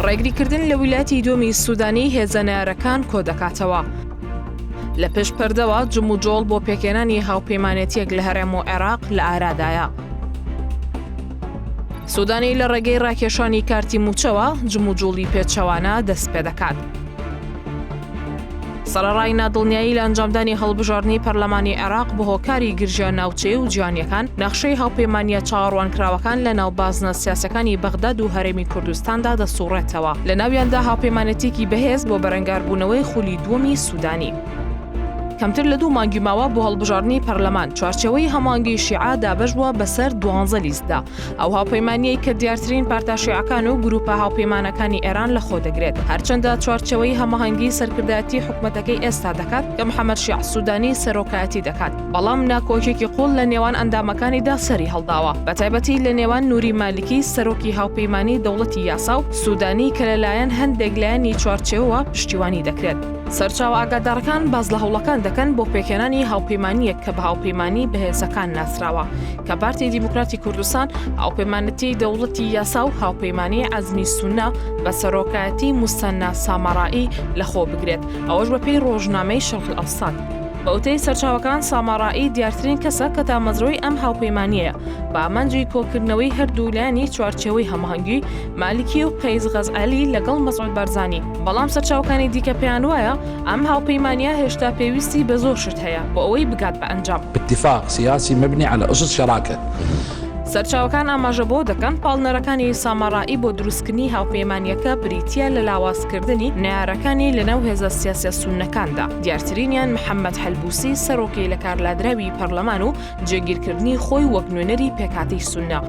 ڕێگریکردن لە ویلایەتی دووەمی سوودانی هێزە نارەکان کۆ دەکاتەوە. لە پێش پەردەوە جم و جۆڵ بۆ پێکێنانی هاوپەیمانێتیەک لە هەرێم و عێراق لە ئارادایە. سوودانی لە ڕێگەی ڕاکێشانی کارتی موچەوە جموجوڵی پێچەوانە دەست پێ دەکات. سەرەڕای نادڵنیایی لە ئەنجامدانی هەڵبژاردنی پەرلەمانی عێراق بە هۆکاری گرژیان ناوچەیە و جیانیەکان نەخشەی هاوپەیمانە چاوەڕوانکراوەکان لە ناو بازنە سیاسەکانی بەغداد و هەرێمی کوردستاندا دەسوڕێتەوە لە ناویاندا هاوپەیمانەتێکی بەهێز بۆ بەرەنگاربوونەوەی خولی دووەمی سوودانی. کەمتر لە دوو مانگی ماوە بۆ هەڵبژاردنی پەرلەمان چوارچەوەی هەمانگی شیعە دابەش بووە بەسەر دوانزە لیستدا ئەو هاوپەیمانیەی کە دیارترین پارتە شیعەکان و گروپە هاوپەیمانەکانی ئێران لە خۆ دەگرێت هەرچەندە چوارچەوەی هەماهەنگی سەرکردایەتی حکومەتەکەی ئێستا دەکات کە محەمەد شیع سوودانی سەرۆکایەتی دەکات بەڵام ناکۆکیەکی قوڵ لە نێوان ئەندامەکانیدا سەری هەڵداوە بەتایبەتی لە نێوان نوری مالکی سەرۆکی هاوپەیمانی دەوڵەتی یاسا و سوودانی کە لەلایەن هەندێک لایەنی چوارچێوەوە پشتیوانی دەکرێت. سەرچاوە ئاگادارەکان باس لە هەوڵەکان دەکەن بۆ پێکهێنانی هاوپەیمانیەک کە بە هاوپەیمانی بەهێزەکان ناسراوە کە پارتی دیموکراتی کوردستان هاوپەیمانەتی دەوڵەتی یاسا و هاوپەیمانی عزمی سونە بە سەرۆکایەتی مستەنا ساماڕایی لەخۆ بگرێت ئەوەش بە پێی ڕۆژنامەی شەق ئەفسان. بەوتەی سەرچاوەکان ساماڕایی دیارترین کەسە کە تامەزرۆی ئەم هاوپەیمانیەیە بە ئامانجی کۆکردنەوەی هەردوولایانی چوارچێوەی هەماهەنگی مالکی و قەیس غەزئەلی لەگەڵ مەسعود بارزانی، بەڵام سەرچاوەکانی دیکە پێیان وایە ئەم هاوپەیمانییە هێشتا پێویستی بە زۆر شت هەیە بۆ ئەوەی بگات بە ئەنجام. اتفاق سیاسی مبنی علی اسس شراکە. سەرچاوەکان ئاماژە بەوە دەکەن پاڵنەرەکانی سامارائی بۆ دروستکردنی هاوپەیمانییەکە بریتییە لە لاوازکردنی نەیارەکانی لەناو هێزە سیاسییە سوننەکاندا، دیارترینیان محەممەد حەلبوسی سەرۆکی لەکارلادراوی پەرلەمان و جێگیرکردنی خۆی وەک نوێنەری پێکهاتەی سونە.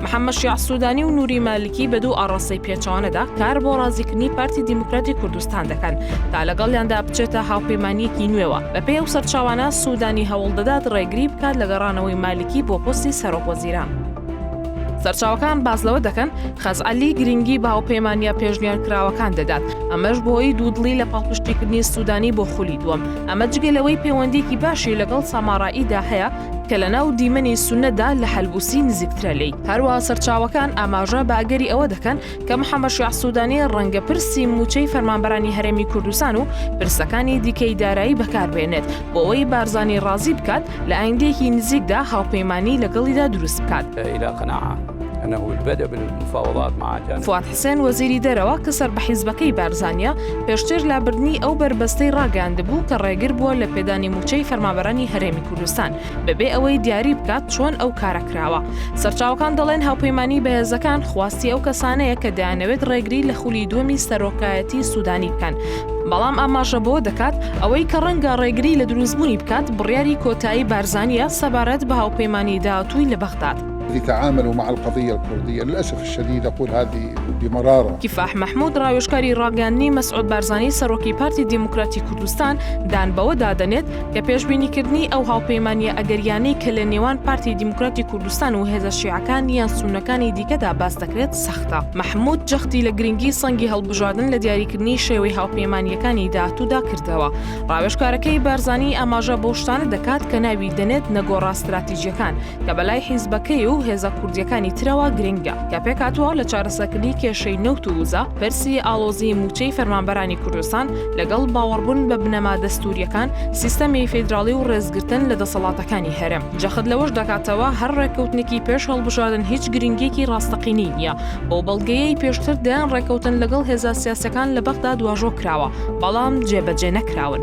محەممەد شیاع سوودانی و نووری مالکی بە دوو ئاڕاستەی پێچەوانەدا کار بۆ ڕازیکردنی پارتی دیموکراتی کوردستان دەکەن تا لەگەڵیاندا بچێتە هاوپەیمانییەکی نوێوە، بەپێی ئەو سەرچاوانە سوودانی هەوڵ دەدات ڕێگری بکات لە گەڕانەوەی مالکی بۆ پۆستی سەرۆکوەزیران. سەرچاوەکان باس لەوە دەکەن، خەزعەلی گرنگی بە هاوپەیمانییە پێشنیارکراوەکان دەدات، ئەمەش بەهۆی دوودڵی لە پاڵپشتیکردنی سوودانی بۆ خولی دووەم، ئەمە جگە لەوەی پێوەندیەکی باشی لەگەڵ ساماڕائیدا هەیە کە لە ناو دیمەنی سونەدا لە حەلبوسی نزیکترە لی هەروە سەرچاوەکان ئاماژە بە ئەگەری ئەوە دەکەن کە محەمەشیع سوودانی ڕەنگە پرسی موچەی فەرمانبەرانی هەرێمی کوردستان و پرسەکانی دیکەی دارایی بەکاربێنێت بۆەوەی بارزانانی ڕازی بکات لە ئایندێکی نزیکدا هاوپەیمانانی لەگەڵیدا دروست بکات. فواد حسێن وەزیری دەرەوە کە سەر بە حیزبەکەی بارزانییە، پێشتر لابردنی ئەو بەربەستەی ڕاگەیاندبوو کە ڕێگر بووە لە پێدانی مووچەی فەرمانبەرانی هەرێمی کوردستان، بەبێ ئەوەی دیاری بکات چۆن ئەو کارە کراوە. سەرچاوەکان دەڵێن هاوپەیمانیی بەهێزەکان خواستی ئەو کەسانەیە کە دەیانەوێت ڕێگری لە خولی دووەمی سەرۆکایەتیی سوودانی بکەن، بەڵام ئاماژە بەوە دەکات ئەوەی کە ڕەنگە ڕێگری لە دروستبوونی بکات، بڕیاری کۆتایی بارزانییە سەبارەت بە هاوپەیمانیی داهاتووی لە بەغداد. لتعاملوا مع القضية الكردية للأسف الشديد أقول هذه بمرارة کیفاح مەحمود ڕاوێژکاری ڕاگەیاندنی مەسعود بارزانی سەرۆکی پارتی دیموکراتی کوردستان دان بەوەدا دەنێت کە پێشبینیکردنی ئەو هاوپەیمانییە ئەگەرییانەی کە لە نێوان پارتی دیموکراتی کوردستان و هێزە شیعەکان یان سوننەکانی دیکەدا باس دەکرێت سەختە مەحمود جەختی لە گرنگی سەنگی هەڵبژاردن لە دیاریکردنی شێوەی هاوپەیمانییەکانی داهاتوودا کردەوە ڕاوێژکارەکەی بارزانی ئاماژە بەو شتانە دەکات کە ناوی دەنێت نەگۆڕە ستراتیجیەکان کە بەلای حیزبەکەی و هێزە کوردیەکانی ترەوە گرنگە، کە پێکهاتووە لە چارەسەکردنی کێشەی نەوت و وزە، پرسی ئاڵۆزی مووچەی فەرمانبەرانی کوردستان، لەگەڵ باوەڕبوون بە بنەما دەستووریەکان، سیستەمی فیدراڵی و ڕێزگرتن لە دەسەڵاتەکانی هەرێم. جەخت لەوەش دەکاتەوە هەر ڕێککەوتنێکی پێش هەڵبژاردن هیچ گرنگیەکی ڕاستەقینەی نیە، بەو بەڵگەیەی پێشتر دەیان ڕێککەوتن لەگەڵ هێزە سیاسیەکان لە بەغداد واژۆ کراوە، بەڵام جێبەجێ نەکراون.